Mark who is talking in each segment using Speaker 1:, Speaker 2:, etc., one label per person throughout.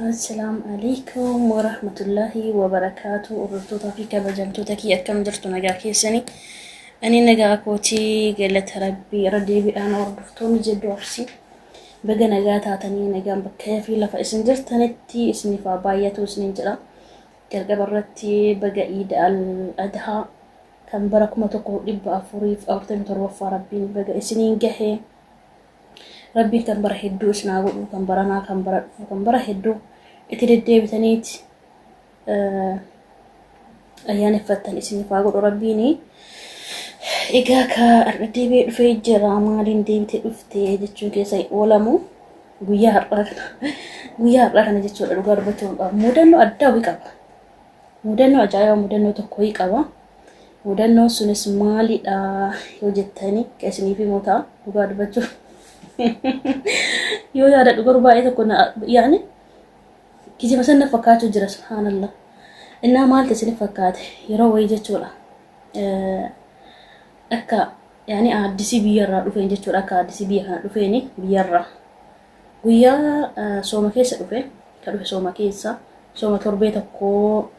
Speaker 1: Assalaamu alaikum wa rahmatullahi wa barakaatu. Hordoftoota fi kabajamtoota kiyya akkam jirtu nagaa keessanii. Ani nagaa kootii galata rabbii irra deebiidhaan hordoftoonni jedhu arsii. Baga nagaa taatanii nagaan bakka fi lafa isin jirtanitti isiniif haa baay'atu isiniin jedha. Jalqaba irratti baga iida al-adhaa kan bara 1447ffaa rabbiin baga isiniin gahe rabbiin kan bara hedduu isin haa godhu kan baranaa kan bara dhufu kan bara hedduu itti deddeebitaniiti ayyaaneffattan isiniif haa godhu rabbiin egaa ka har'a deebi'ee dhufee jira maaliin deebitee dhufte jechuun keessa hin oolamu guyyaa har'aa kana guyyaa har'aa kana jechuudha dhugaa dubbachuudhaaf mudannoo addaa wayii qaba Mudannoo ajaa'ibaa mudannoo tokkoyii qaba. Mudannoon sunis maalidha yoo jettanii isiniif himoo ta'a dhugaa dubbachuuf. Yoo yaadadhu garuu baay'ee tokko yaani kijiba sana fakkaachuu jira subhaanallah. Innaa maalti isiniif fakkaate yeroo wayii jechuudha. Akka yaani aaddisii biyyarraa dhufeen jechuudha akka aaddisii biyya kana dhufeeni biyyarraa. Guyyaa sooma keessa dhufe, ka dhufe sooma keessa, sooma torbee tokkoo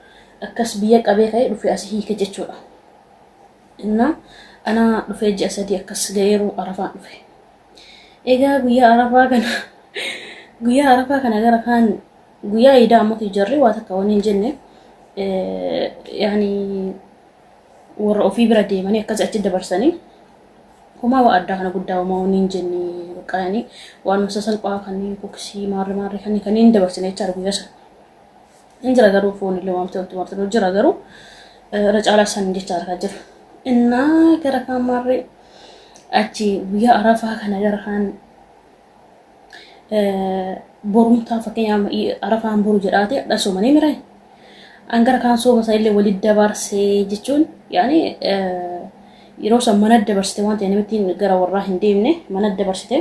Speaker 1: akkas biyya qabee ka'ee dhufe asi hiike jechuudha. Innaa ana dhufee ji'a sadii akkas ga'eeru arafaan dhufe. Egaa guyyaa arafaa kana guyyaa arafaa kana gara kaan guyyaa iidaa ammoo jarri waa takka waniin jenne yaani warra ofii bira deemanii akkas achi dabarsanii homaa waa addaa kana guddaa homaa wanni hin jenne bakka yani waanuma sasalphaa kanneen koksii maarre maarre kanneen kanneen hin dabarsine jecha argu yasa hin jira garuu foon illee waamtee walitti martanii jira garuu irra caalaa san jecha argaa jira innaa gara kaan maarre achi guyyaa arafaa kana gara kaan borumtaa fakkeenyaaf arafaan boru jedhaate hadha soomanii mira angara kaan sooma isaa illee walitti dabaarsee jechuun yaani yeroo san mana dabarsite waan ta'e namittiin gara warraa hin deemne mana dabarsite.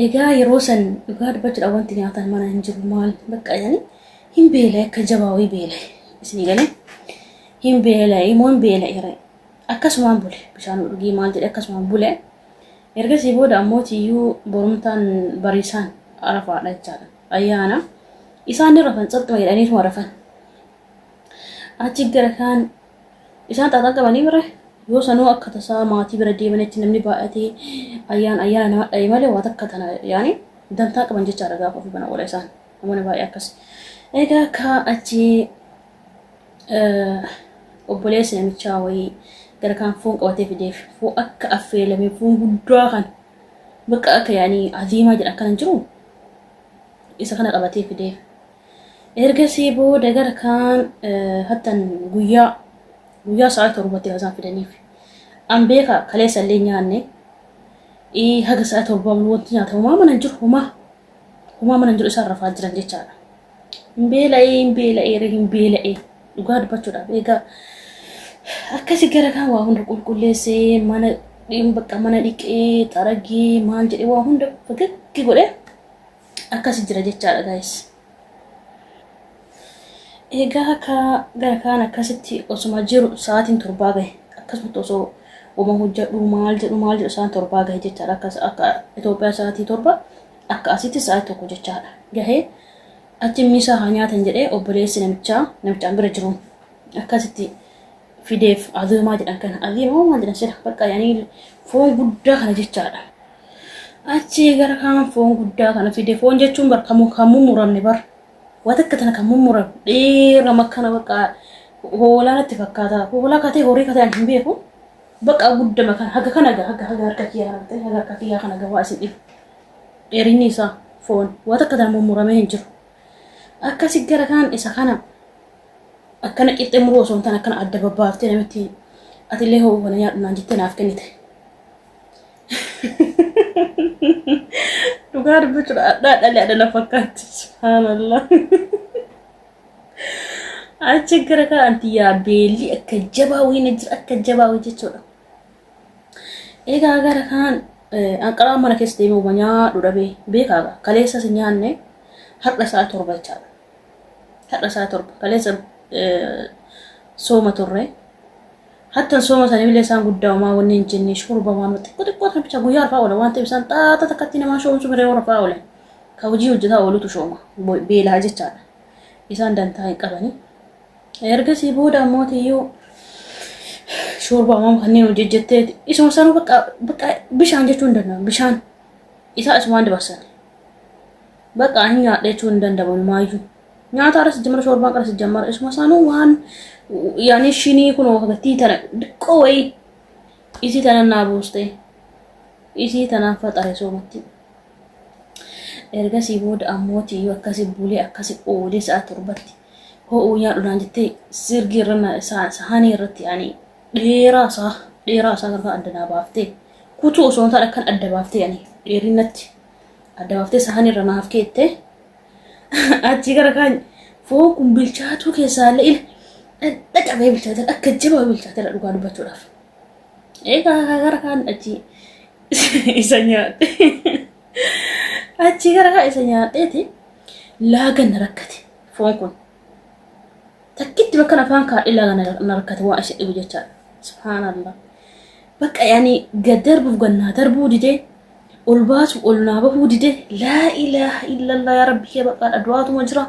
Speaker 1: Egaa yeroo san dhugaa dubbachuudhaan wanti nyaatan mana hin jiru maal bakka yaani hin beela akka jabaa wayii beela isinii galee hin beela immoo hin beela akkasumaan bule bishaan dhugii maal jedhe akkasumaan bule. Ergasii booda ammoo tiyyuu borumtaan bariisaan Arafaadha jechaadha. Ayyaana. Isaan ni rafan tsaxxuma jedhaniituma rafan. Achi gara kaan isaan xaaxan qabanii bira yoo sanuu akka tasaa maatii bira deemanitti namni baay'atee ayyaan ayyaana nama dha'e malee waa takka tana yaani dantaa qaban jechaadha gaafa ofii bana oola isaan namoonni baay'ee akkas. Egaa akka achi obboleessi namichaa wayii gara kaan foon qabatee fideef fuu akka affeelamee foon guddaa kan bakka akka yaanii aziimaa jedhan kana jiru isa kana qabatee fideef. Ergasii booda gara kaan hattan guyyaa guyyaa sa'a torbatti kan isaan fidaniif. An beeka kaleessa illee nyaanne haga sa'a torbaa wanti nyaata homaa mana jiru homaa homaa mana jiru isaan rafaa jiran jechaadha. Hin beela'ee hin beela'ee ree hin beela'ee dhugaa dubbachuudhaaf egaa akkasi gara kaan waa hunda qulqulleessee mana dhiin bakka mana dhiqee xaragee maal jedhee waa hunda fagaggi godhee akkasi jira jechaadha gaayis. Egaa akka gara kaan akkasitti osuma jiru sa'aatiin torbaa gahe akkasumatti osoo wama hojjedhu maal jedhu maal jedhu sa'aan torbaa gahe jechaadha akka Itoophiyaa sa'aatii torba Akka asitti sa'aatii tokko jechaadha. Gahee achi miisaa haa nyaatan jedhee obboleessi namichaa namichaan bira jiru akkasitti fideef aziimaa jedhan kana aziimaa maal jedhan sila bakka yaanii foon guddaa kana jechaadha. Achi gara kaan foon guddaa kana fide foon jechuun bar kan kan mummuramne bar waan akka tana kan mummuram dheera makkana bakka hoolaa natti fakkaata hoolaa katee horii katee ani hin beeku bakka guddama kan haga kana haga haga harka kiyyaa kana ta'e haga harka kiyyaa kana gawaa isin dhibu dheerinni isaa foon waa takka taa mummuramee hin jiru akkasi gara kanaan isa kana akkana qixxee muruu osoo hin taane akkana adda babbaaftee namitti atillee hoo kana nyaadhu naan jettee naaf kennite dhugaa dubbachuudha addaa dhalee adda na fakkaatti subhaanallah achi gara kanaan tiyyaa beelli akka jabaa wayina jira akka jabaa wayii jechuudha Egaa gara kaan anqaraa mana keessa deemee uma nyaadhu dhabee beekaaga kaleessas nyaanne har'a sa'a torba jechaadha. Har'a sa'a torba kaleessa sooma turre. Hattan sooma sana illee isaan guddaa umaa wanni hin jenne shurba waan xiqqoo xiqqoo sana bichaa guyyaa rafaa oola waan ta'eef isaan xaata takkatti namaa shoomsu miree warra rafaa oolan. Ka hojii hojjetaa oolutu shooma beelaa jechaadha. Isaan dantaa hin qabanii. Ergasii booda ammoo tiyyuu shoorbaa waan kanneen hojjejjetteeti. Isuma sana bakka bakka bishaan jechuu hin danda'amu. Bishaan isaa isumaan dabarsan. Bakka hin nyaadhe jechuu hin danda'amu maayyuu. Nyaata irra sijjamara shoorbaan qara sijjamara isuma sana waan yaani shinii kun wakattii tana diqqoo wayii isii tana naa buustee isii tanaan faxare soomatti. Ergasii booda ammooti yoo akkasi bulee akkasi oolee sa'a torbatti ho'uu nyaadhudhaan jettee sirgii irra na- sa- sahaanii irratti ani dheeraa isaa dheeraa isaa kan adda naa baaftee kutuu osoo hin taane akkan adda baaftee ani dheerinatti adda baaftee sahaanii irra naaf keettee achii gara kaan foon kun bilchaatuu keessaa illee ila dhadha qabee bilchaatee akka jabaa bilchaatee dhugaa dubbachuudhaaf. Egaa gara kaan achii isa nyaadhe achi gara isa nyaadheeti laaga na rakkate foon kun takkitti bakka afaan kaadhee laaga na rakkate waan isa dhibu jechaadha subhaanallah bakka yaani gad darbuuf gad naa darbuu didee ol baasuuf ol naa bahuu didee laa ilaaha illallah yaa rabbi kee baqaadha du'aatuma jira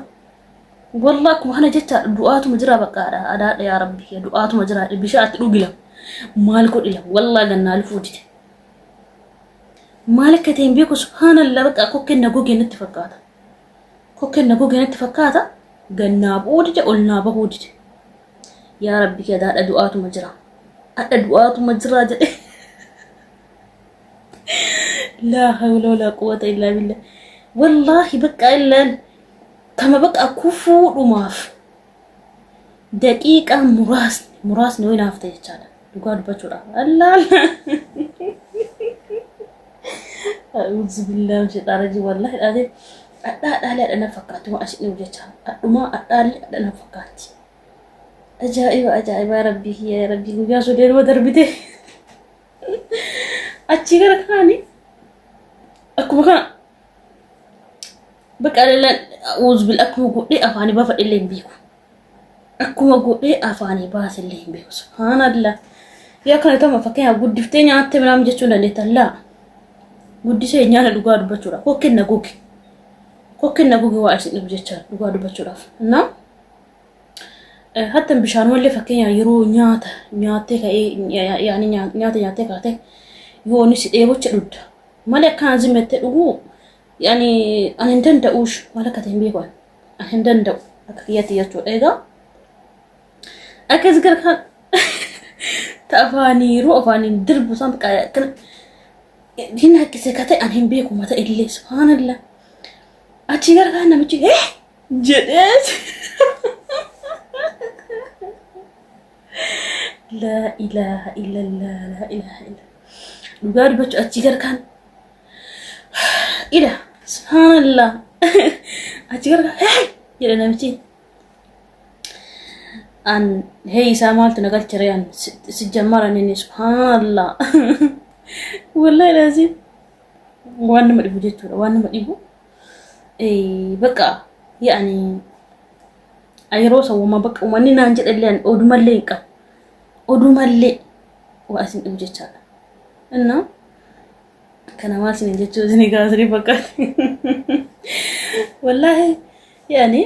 Speaker 1: Wallah akkuma kana jecha du'aatuma jira baqaadha adaadha yaa rabbi kiyya du'aatuma jira bishaa atti dhugila maal godhila wallah gannaa lufuu dide maal akka ta'e hin beeku subhaanallah baqa kokkeen na gogee natti fakkaata kokkeen na gogee natti fakkaata gannaa bu'uu dide ol naa bahuu dide yaa rabbi kiyya adaadha du'aatuma jira adha du'aatuma jira jedhe laa hawla walaa quwwata illaa billah wallaahi baqqaa illaan Kama baqa kufuudhumaaf daqiiqaa muraasni muraasni yoo naaf ta'e jechaadha. Dhugaa dubbachuudhaaf. Allaala. A'uudzu billaa misheexaa rajii wallaahi dhaatee adhaa dhaalee adhana fakkaatti waan ashiin jiru jecha adhumaa adhaalee adhana fakkaatti. Ajaa'iba ajaa'iba rabbii kiyya rabbii guyyaa sodee nama darbite. Achii gara kaani akkuma kana Bakka alalaan uuzbil akkuma godhee afaanii baafadhe illee hin beeku. Akkuma godhee afaanii baase illee hin beeku. Subhaanallah. Yoo akkana ta'u fakkeenyaaf guddiftee nyaattee midhaan jechuu hin dandeettan laa. Guddisee nyaata dhugaa dubbachuudhaaf. Kokkeen na goge. Kokkeen na goge waa isin dhibu jecha dhugaa dubbachuudhaaf. Naa hatta bishaan malee fakkeenyaaf yeroo nyaata nyaattee ka'ee yaani nyaata nyaattee kaatee yoo inni si dheebocha dhudda. Mali akka anzii mette dhuguu yani ani hin danda'uush maal akka ta'e hin beeku ani hin danda'u akka kiyyatti jechuudha egaa akkas gara kan tafaaniiru afaaniin dirbu isaan kan hin haqqise ka ta'e ani hin beeku mata illee subhaanallah achi gara kan namichi eh jedhees laa ilaaha illallah laa ilaaha illa dhugaa dubbachuu achii garkaan ila subhaanallah achii garkaan hey jedhe namichi an hey isaa maaltu na galchire an si jammara nini subhaanallah wallahi laazim waan nama dhibu jechuudha waan nama dhibu bakka yaani Yeroo isa uumaa bakka uummanni naan jedhallee ani odumallee hin qabu. Odumallee waa isin dhibu jechaadha. Innaa kana maal isin jechuu isin egaa isin fakkaate. Wallaahi yaani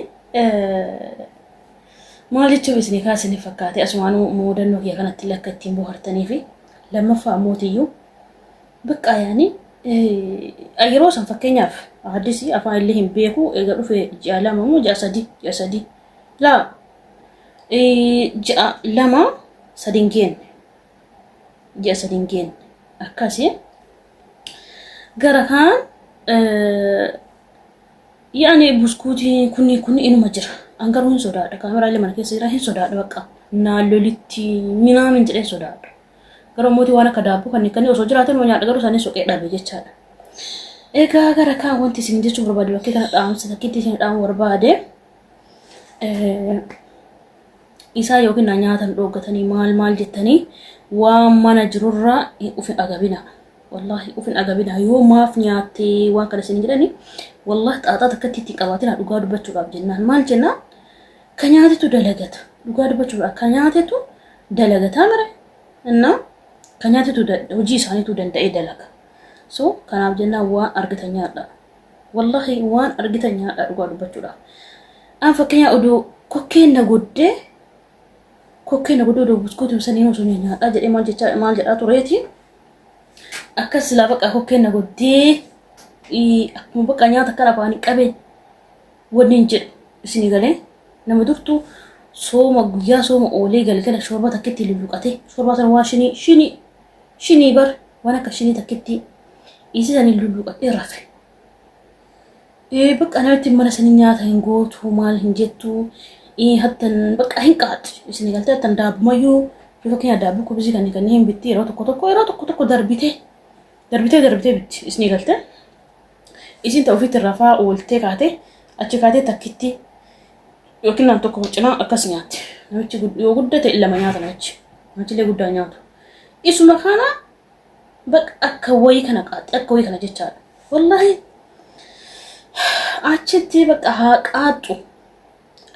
Speaker 1: maal jechuuf isin egaa isin fakkaate asumaan muudannoo kiyya kanatti lakka ittiin bohartanii fi lammaffaa ammoo tiyyuu Baqqaa yaani yeroo san fakkeenyaaf haddisi afaan illee hin beeku eega dhufe ji'a lama moo ji'a sadii ji'a sadii laa ji'a lama sadin geenne ji'a sadin geenne akkasi gara kaan yaani buskuutii kunni kunni inuma jira an garuu hin sodaadha kaameraalee mana keessa jira hin sodaadha baqqaa naallolitti minaamin jedhee sodaadha. Garuu mootii waan akka daabboo kan hikkanii osoo jiraatee numa nyaadha garuu isaanii soqee dhabe jechaadha. Egaa gara kaan wanti isin jechuu barbaade bakkee kana dhaamsa fakkiitti isin dhaamu barbaade. Isaa yookiin na nyaatan dhooggatanii maal maal jettanii waan mana jirurraa ufin agabina. Wallaahi ufin agabina yoo maaf nyaattee waan kana isin jedhani wallaahi xaaxaa takkatti itti qabaatina dhugaa dubbachuudhaaf jennaan maal jennaan Ka nyaatetu dalagata. Dhugaa dubbachuuf akka nyaatetu dalagataa mire inna ka nyaatetu da- hojii isaaniitu danda'ee dalaga. So kanaaf jennaan waan argitan nyaadha. Wallahi waan argitan nyaadha dhugaa dubbachuudhaaf. An fakkeenyaa odoo kokkeen na goddee kokkeen na goddee odoo buskuutiin sanii osoo nyaadhaa jedhee maal jechaa maal jedhaa tureeti. Akka silaa baqa kokkeen na goddee ii, akkuma baqa nyaata kan afaanii qabeen Wannin jedhu isinii galee nama durtuu sooma guyyaa sooma oolee galgala shoorba takkitti lulluqatee shoorbaa sana waan shinii shinii shinii bar waan akka shinii takkitti isii sanii lulluqatee rafe. Ee bakka namatti mana sanii nyaata hin gootu maal hin jettu ee hattan bakka hin qaat isinii galtee hattan daabbumayyuu yeroo keenya daabbuu kubisii kanneen kanneen hin bitti yeroo tokko tokko yeroo tokko tokko darbitee darbitee darbitee bitti isinii galtee. Isiin ta ofiitti rafaa ooltee kaate achi kaatee takkitti yookiin nam tokko cinaa akkas nyaatti. Namichi yoo gudda ta'e lama nyaata namichi. Namichillee guddaa nyaatu. Isuma kana bakka akka wayii kana qaaxxe akka wayii kana jechaadha. Wallaahi achitti bakka haa qaaxxu.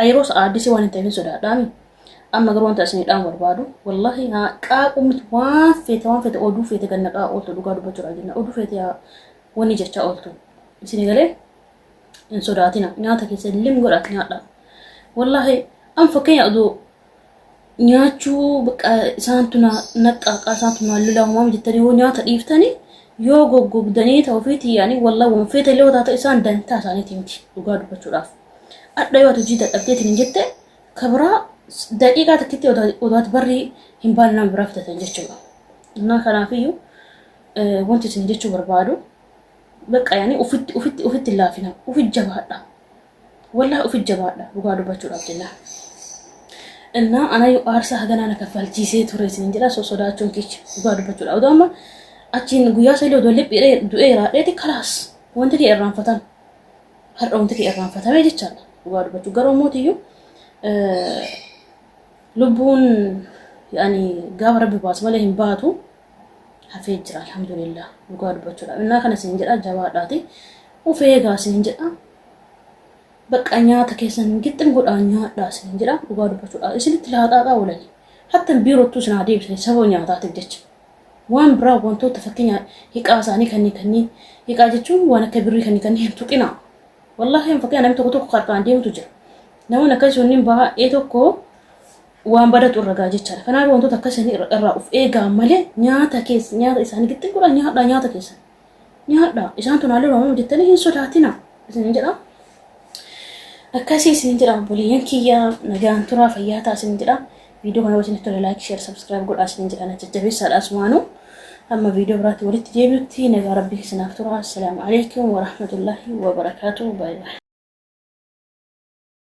Speaker 1: Yeroo sa'aaddisi waan hin ta'eef sodaadhaami. Amma garuu wanta isin dhaamuu barbaadu wallaahi haa qaaquu miti waan feete waan feete oduu feete gannaqaa ooltu dhugaa dubbachuudhaaf jenna. Oduu feete yaa Wanni jechaa ooltu isin galee hin sodaatina nyaata keessa lim godhaat nyaadha. Wallaahi an fakkeenya aduu nyaachuu bakka isaantu na naqqaaqa isaantu na lolaa homaa jettanii yoo nyaata dhiiftanii yoo goggogdanii ta'u fi tiyyanii wallaahi waan feete illee taate isaan dantaa isaaniitii miti dhugaa dubbachuudhaaf. Adda yoo ati hojii dadhabdeetiin hin jette kabiraa daqiiqaa takkitti odaati barrii hin baane nama biraa fidatan jechuudha. Innaa kanaafiyyuu Wanti isin jechuu barbaadu bakka yaani ufitti ufitti ufitti laafina ufi jabaadha wallahi ufi jabaadha dhugaa dubbachuudhaaf jennaan innaa anayyuu aarsaa haganaa na kaffalchiisee ture isin jedha so sodaachuun kicha dhugaa dubbachuudha odoo amma achiin guyyaa isa illee odoo liphii du'ee raadheeti kalaas wanti kee irraanfatame har'a wanti kee irraanfatame jechaadha dhugaa dubbachuu garuu mootiyyuu lubbuun yaani gaafa rabbi baasu malee hin baatu hafee jira alhamdulillah dhugaa dubbachuudhaaf innaa kana siin jedha jabaadhaati of eegaa siin jedha bakka nyaata keessan gixxin godhaa nyaadhaa siin jedha dhugaa dubbachuudhaaf isinitti laaqaaqaa oolanii hattan biirottuu isin haa deebisanii sababa nyaataatiif jecha waan biraa wantoota fakkeenya hiqaa isaanii kanneen kanneen hiqaa jechuun waan akka birrii kanneen kanneen hin tuqinaa wallaahi hin fakkeenya namni tokko tokko harkaan deemutu jira namoonni akkasii sunniin baay'ee tokko waan badatu irra gaa jechaadha. Kanaaf wantoota akka isaanii irra- irraa of eegaa malee nyaata keessa nyaata isaanii gixxin godha nyaadhaa nyaata keessa nyaadhaa isaan tunaallee waamamu jettanii hin sodaatina isin jedha. Akkasii isin jedha obboleeyyan kiyya nagaan turaa fayyaa ta'a isin jedha. Viidiyoo kana wajjin tola laayik sheer sabskiraayib godhaa isin jedha na jajjabeessaadha asumaanuu. Amma viidiyoo biraatti walitti deebi'utti nagaa rabbii isinaaf turaa. Assalaamu alaikum wa rahmatullahi wa barakaatuhu. Baay'ee.